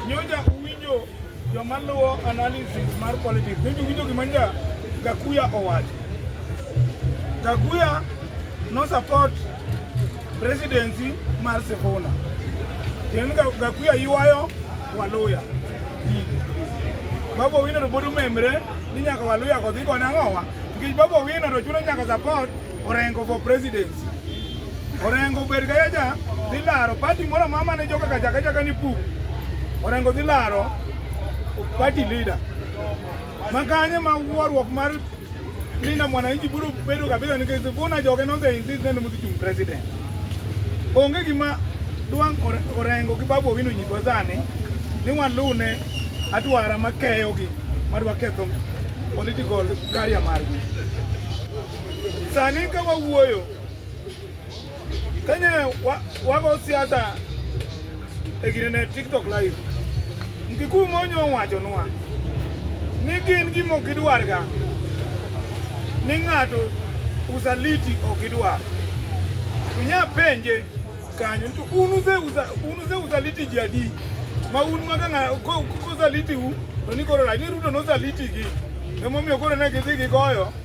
Nyoja uwinjo joma luwo analysis mar politics, nyoja uwinjo gima nja Gakuya owacho. Gakuya no support presidency mar Sifuna. Kendo Gakuya ywayo Waluya. Babu Owino to pod omemre ni nyaka Waluya kodhi koni ang'owa. Nikech Babu Owino to chuno nyaka support Orengo for presidency. Orengo bed ka yaja dhi laro party moro mama ne joka kaja kaja kani pu. Orengo dhi laro party leader. Makanye ma wuorwok mar Linda mwananchi biro bedo kabisa nikech Sifuna joge nose insist ni mudhi chung president. Onge gima Duang' Orengo gi Babu Owino nyiswa sani ni waluw ne adwara makeyogi madwa ketho political career margi. Sani ka wawuoyo kane wago siasa e gine ne TikTok live, Mkikuyu Monyo owachonwa ni gin gima ok gidwarga ni ng'ato usaliti ok gidwar. Unya penje kanyo to un use usaliti ji adi ma un ma kosaliti u to ni koro rach ni Ruto nosaliti gi emomiyo koro ne gidhi gigoyo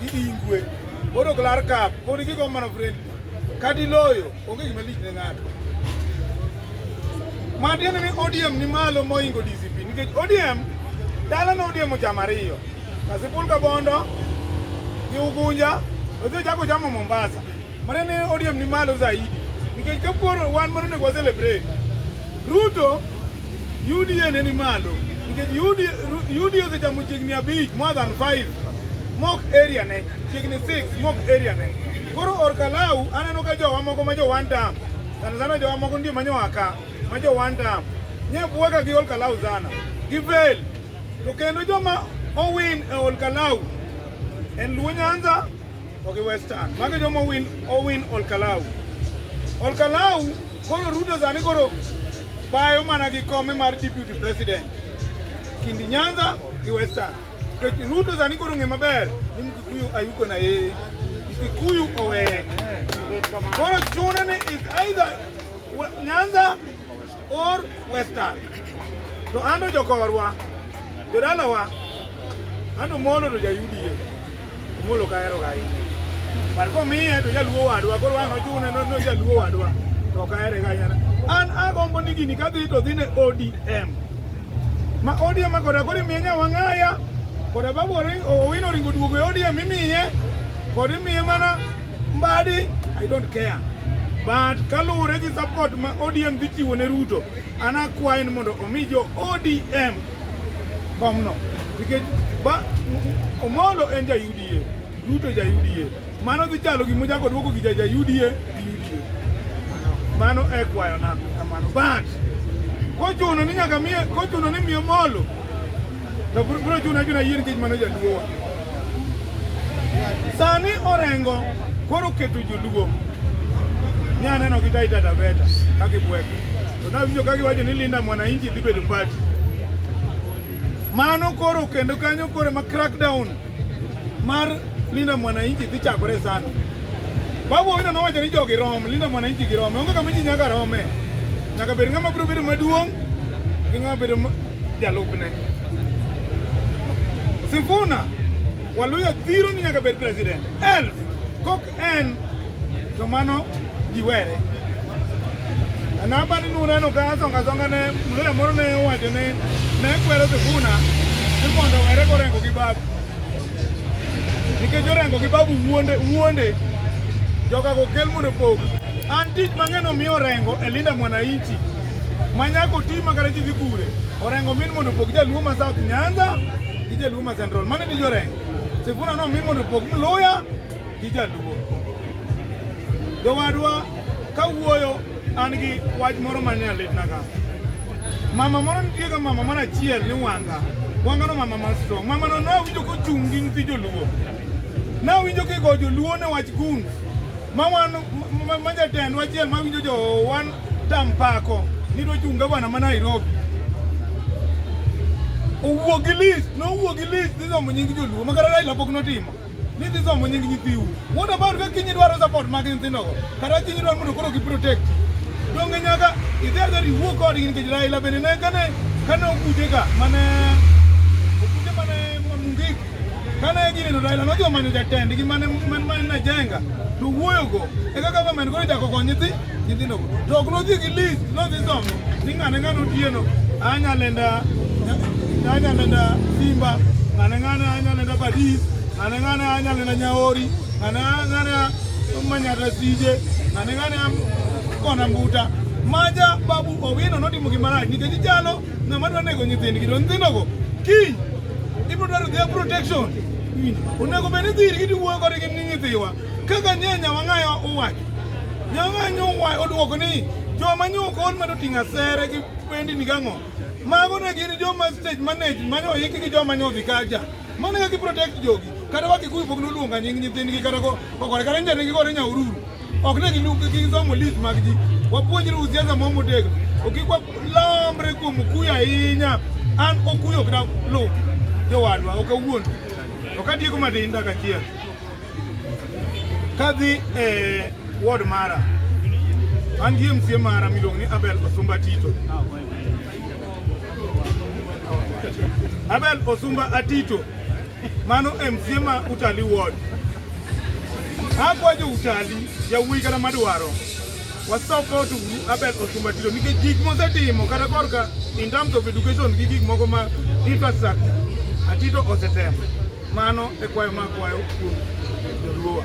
Gidhi ingwe. Koro klar kap, koro gigo mana friend. Kadi loyo, onge gima lich ne ng'ato. Ma tiende ni ODM ni malo moingo DCP nikech ODM dala na ODM ochamo ariyo. Kasipul Kabondo gi Ugunja, odhi chako chamo Mombasa. Maneno ya ODM ni malo zaidi. Nikech koro wan mondo onego celebrate. Ruto UDA ne ni malo. Nikech UDA UDA osechamo chiegni abich more than 5 mok area ne chiegni 6 mok area ne. Koro Orkalau aneno ka jowa moko ma jo one term. Sana sana jowa moko ndio manyo aka ma jo one term. Nye buoka gi Orkalau sana. Givel. To kendo joma owin e Orkalau en Luo Nyanza Okay, Western. Mage jomo win Owin Olkalau. Olkalau koro Ruto sani koro bayo mana gi kome mar deputy president. Kindi Nyanza gi Western. To Ruto sani koro ng'e maber ni Mkikuyu ayuko na yeye. Mkikuyu owe. Koro chune ni is either Nyanza or western to ando jokorwa jodalawa ando molo to jayudie omolo kahero gahinya but komiye to jaluo wadwa koro wang' ochune no jaluo wadwa to kahere gahinya an agombo ni gini kadhi to dhi ne odm ma odm koda koro imiye nyawang'aya koda babu owino oringo duogo e odm imiye kod imiye mana Mbadi, I don't care. But kaluwore gi support ma ODM dhi chiwo ne Ruto, an akwayo ni mondo omi jo ODM komno. Nikech ba Omolo en ja UDA, Ruto ja UDA. Mano dhi chalo gima ochako duoko gi ja ja UDA gi UDA. Mano e kwayo na kamano. But kochuno ni nyaka miye kochuno ni miye Omolo To bro chuna chuna yier kech mano jaduo. Sani orengo koro keto joluo. Ni aneno gi Taita Taveta kaki bweko. To na winjo kaki wacho ni Linda Mwananchi dhi bedo party. Mano koro kendo kanyo koro ma crackdown mar Linda Mwananchi dhi chakore sana. Babu Owino nowacho ni jogi rom, Linda Mwananchi gi rome. Onge kama ji nyaka rome. Nyaka bed ng'ama biro bedo maduong' gi ng'ama bedo jalupne. Sifuna Waluya dhiro ni nyaka bed president. Elf kok en to mano ji were anabani nuneno ka azongazonga ne mluya moro ne owacho ni ne kwero Sifuna ni mondo were korengo gi babu nikech orengo gi babu wuonde wuonde joga go kel mondo pog an tich mang'eny omiyo orengo e linda mwananchi manyako ti makara ji dhi kure orengo min mondo pog jaluo ma South Nyanza gi jaluo ma Central mane ni jorengo Sifuna no min mondo pog mluya gi jaluo. Jowadwa kawuoyo an gi wach moro ma ne alitnaga. Mama moro nitie ga mama moro achiel ni wanga. Wanga no mama ma strong. Mama no nawinjo kochung' gi nyithi joluo. Nawinjo kigo joluo ne wach gun. Ma wan ma jatend wachiel mawinjo jo wan tampako ni dochung' gavana ma Nairobi. Owuo gi list, nowuo gi list dhisomo nying joluo ma kata Raila pok notimo. ni dhi somo nying nyithiu wuod about ka kinyi dwaro support mag nyithindogo kata kinyi dwaro mondo koro giprotect donge nyaka idhi adhi riwuo kodgi nikech Raila bende ne kane kane okute ka mane okute mane mamungik kane gineno Raila nodhi omanyo jatendgi mane mane najenga to wuoyogo e kaka government koro ichako kony nyithindo Nyithindo to ok nodhi gi lich, nodhi somo. Ni ng'ane ng'ane otieno, anya lenda, anya lenda Simba, ng'ane ng'ane anya lenda Badis, ng'ane ng'ane anya lenda Nyaori, ng'ane ng'ane Manyata Sije, ng'ane ng'ane Kona Mbuta. Maja babu Owino notimo gimarach nikech jalo ng'ama dwa nego nyithindgi to nyithindogo kiny ibiro dwaro their protection. Onego bed ni dhiri gidi wuoyo kodgi ni nyithiwa. Kaka nie nyawang'ayo uwacho, nyawang'ayo uwacho odwoko ni joma nyoko on mado ting'o asere gi pendi ni gang'o. Mago ne gin joma stage manage manyo yiki gi joma nyo dhi kaja. Mane kaka protect jogi. Kata waki kuyu pok nuluonga nying nyithindgi kata ko kokore kata njane gi gore nyaururu. Ok ne gilu gi somo list mag ji. Wapuonjre usiasa mo motegno. Okikwa lambre kuom kuyu ahinya. An okuyo kda lo. Jowadwa ok awuon. Ok adieko madinda kachiel. Kadhi e ward mara an gi MCA mara miluongo ni Abel Osumba Tito. Abel Osumba Atito mano MCA ma Utali ward. Akwajo Utali yawuoyi kata madwaro wasoko to uru Abel Osumba Tito nikech gik mosetimo kata korka in terms of education gi gik moko ma infrastructure Atito osetemo Mano e kwayo ma kwayo kuom joluowa.